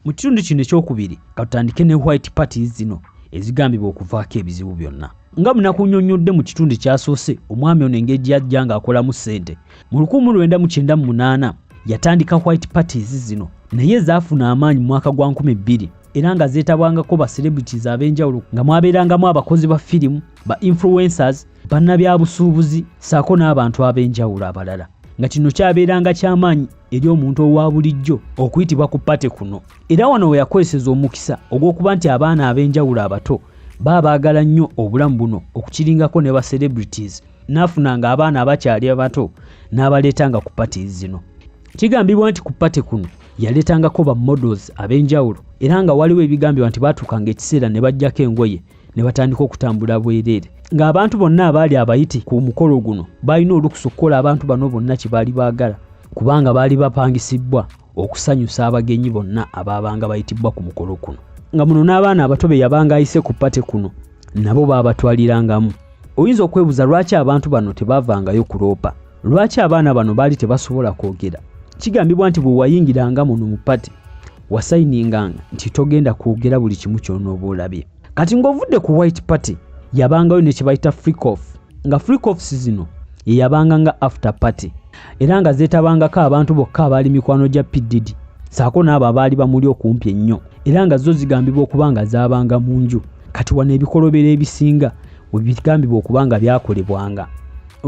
Mu kitundu kino ekyokubiri katutandike ne white parties zino ezigambibwa okuvaako ebizibu byonna. Nga munakunyonnyodde mu kitundu ekyasoose omwami ono engeri gye yajja ng'akolamu ssente mu 1998 yatandika white parties zino naye zaafuna amaanyi mu mwaka gwa 2000 era nga zeetabwangako ba celebrities ab'enjawulo nga mwabeerangamu abakozi ba firimu ba influencers bannabyabusuubuzi ssaako n'abantu ab'enjawulo abalala nga kino kyabeeranga ky'amaanyi eri omuntu owa bulijjo okuyitibwa ku pate kuno era wano we yakozeseza omukisa ogw'okuba nti abaana ab'enjawulo abato baba baagala nnyo obulamu buno okukiringako ne ba celebrities n'afuna ng'abaana abakyali abato n'abaleetanga ku pate zino kigambibwa nti ku pate kuno yaleetangako ba models ab'enjawulo era nga waliwo ebigambibwa nti baatuukanga ekiseera ne bajjako engoye ne batandika okutambula bwereere ng'abantu bonna abaali abayiti ku mukolo guno balina olukusa okukola abantu bano bonna kye baali baagala kubanga baali bapangisibbwa okusanyusa abagenyi bonna abaabanga bayitibbwa ku mukolo kuno nga muno n'abaana abato be yabanga ayise ku pate kuno nabo baabatwalirangamu oyinza okwebuuza lwaki abantu bano tebaavangayo kuloopa lwaki abaana bano baali tebasobola kwogera kigambibwa nti bwe wayingiranga muno mu pati wasayininganga nti togenda kwogera buli kimu kyonooba olabye kati ng'ovudde ku white party yabangayo ne kye bayita freecof nga freecofs zino ye yabanga nga after party era nga zeetabangako abantu bokka abaali mikwano gya pdd saako n'abo abaali bamuli okumpi ennyo era nga zo zigambibwa okuba nga zaabanga mu nju kati wano ebikolobero ebisinga webigambibwa okuba nga byakolebwanga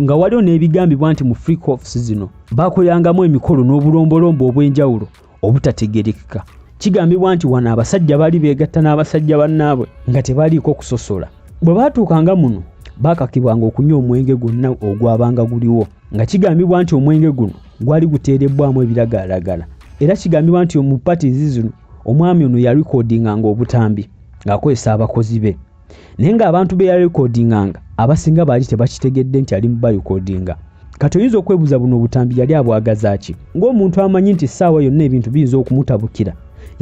nga waliwo n'ebigambibwa nti mu free cofs zino baakolerangamu emikolo n'obulombolombo obw'enjawulo obutategerekeka kigambibwa nti wano abasajja baali beegatta n'abasajja bannaabwe nga tebaliiko kusosola bwe baatuukanga muno baakakibwanga okunywa omwenge gwonna ogwabanga guliwo nga kigambibwa nti omwenge guno gwali guteerebbwamu ebiragalalagala era kigambibwa nti mu patizi zino omwami ono yalikodinganga obutambi ng'akozesa abakozi be naye ng'abantu be yalikodinganga abasinga baali tebakitegedde nti ali mubayikodinga kati oyinza okwebuuza buno obutambi yali abwagaza ki ng'omuntu amanyi nti essaawa yonna ebintu biyinza okumutabukira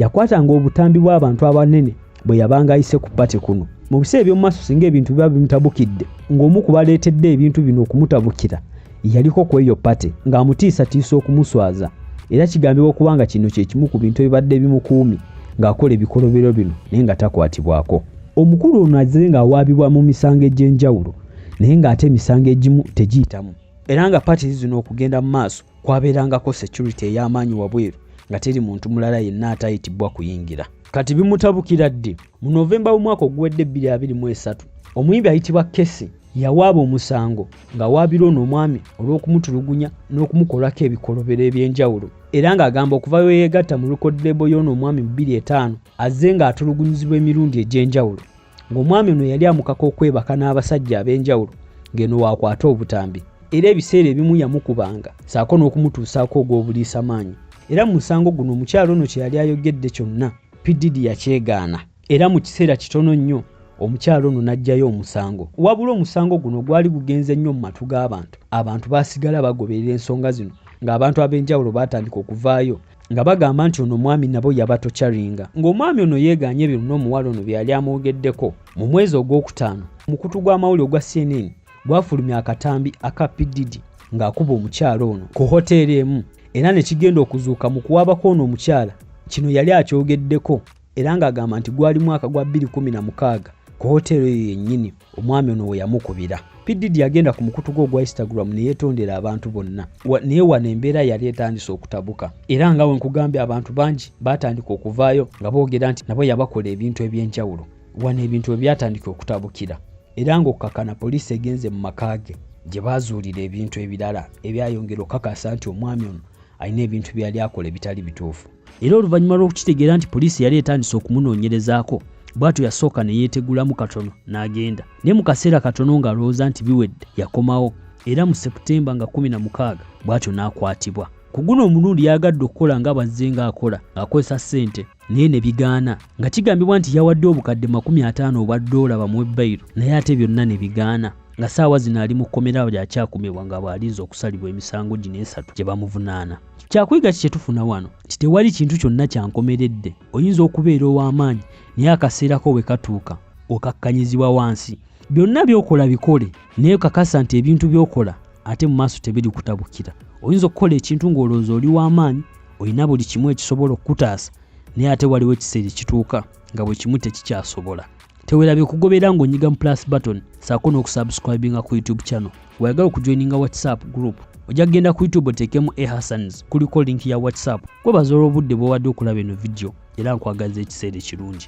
yakwatanga obutambi bw'abantu abanene bwe yabanga ayise ku pate kuno mu biseera eby'omu maaso singa ebintu biba bimutabukidde ng'omu ku baleetedde ebintu bino okumutabukira yaliko ku eyo pate ng'amutiisatiisa okumuswaza era kigambibwa okuba nga kino kye kimu ku bintu ebibadde bimukuumi ng'akola ebikolobero bino naye nga takwatibwako omukulu ono azze ng'awaabibwa mu misango egy'enjawulo naye ng'ate emisango egimu tegiyitamu era nga pati zino okugenda mu maaso kwabeerangako security ey'amaanyi wabweru nga teri muntu mulala yenna atayitibwa kuyingira kati bimutabukira ddi mu novemba w'omwaka oguwedde 223 omuyimbi ayitibwa kesi yawaaba omusango ng'awaabira ono omwami olw'okumutulugunya n'okumukolako ebikolobero eby'enjawulo era ng'agamba okuva we yeegatta mu lukoddeebo y'ono omwami mu 25 azze ng'atulugunyizibwa emirundi egy'enjawulo ng'omwami ono yali amukaka okwebaka n'abasajja ab'enjawulo ng'eno waakwata obutambi era ebiseera ebimu yamukubanga saako n'okumutuusaako ogw'obuliisa maanyi era mu musango guno omukyalo ono kye yali ayogedde kyonna pididi yakyegaana era mu kiseera kitono nnyo omukyalo ono n'aggyayo omusango wabula omusango guno gwali gugenze nnyo mu matu g'abantu abantu baasigala bagoberera ensonga zino ng'abantu ab'enjawulo baatandika okuvaayo nga bagamba nti ono omwami nabo yabatocaringa ng'omwami ono yeeganye ebyo luna omuwala ono byeyali amwogeddeko mu mwezi ogwokutaano omukutu gw'amawuli ogwa cnn gwafulumya akatambi aka pididi ng'akuba omukyala ono ku hoteeri emu era ne kigenda okuzuuka mu kuwaabako ono omukyala kino yali akyogeddeko era ng'agamba nti gwali mwaka gwa 2016 ku hoteero eyo yennyini omwami ono we yamukubira pdd yagenda ku mukutu gwe ogwa instagram ne yeetondera abantu bonna naye wano embeera yali etandise okutabuka era nga we nkugambye abantu bangi baatandika okuvaayo nga boogera nti nabo yabakola ebintu eby'enjawulo wano ebintu we byatandika okutabukira era ng'okukakana poliisi egenze mu maka ge gye baazuulira ebintu ebirala ebyayongera okukakasa nti omwami ono alina ebintu byeyali akola ebitali bituufu era oluvannyuma lw'okukitegeera nti poliisi yali etandise okumunoonyerezaako bw'atyo yasooka ne yeetegulamu katono n'agenda naye mu kaseera katono ng'alowooza nti biwedde yakomawo era mu seputemba nga 16 bw'atyo n'akwatibwa ku guno omulundi yayagadde okukola nga bazze ng'akola ng'akozesa ssente naye ne bigaana nga kigambibwa nti yawadde obukadde 50 obwa ddoola bamuwe bayiro naye ate byonna ne bigaana nga saawa zino ali mu kkomera lyakyakumibwa nga bw'alinze okusalibwa emisango gino esatu gye bamuvunaana kyakuyiga ki kyetufuna wano nti tewali kintu kyonna kyankomeredde oyinza okubeera ow'amaanyi naye akaseerako bwe katuuka okakkanyizibwa wansi byonna byokola bikole naye kakasa nti ebintu byokola ate mu maaso tebiri kutabukira oyinza okukola ekintu ng'olowooza oli w'amaanyi olina buli kimu ekisobola okukutaasa naye ate waliwo ekiseera ekituuka nga bwe kimu tekikyasobola tewerabye kugoberera ng'onyiga mu plus button saako n'okusubscribinga ku youtube channel weyagala okujoininga whatsapp group ojja kugenda ku youtube oteekemu e hassans kuliko linki ya whatsapp kwebaza olw'obudde bwewadde okulaba eno vidiyo era nkwagaza ekiseera ekirungi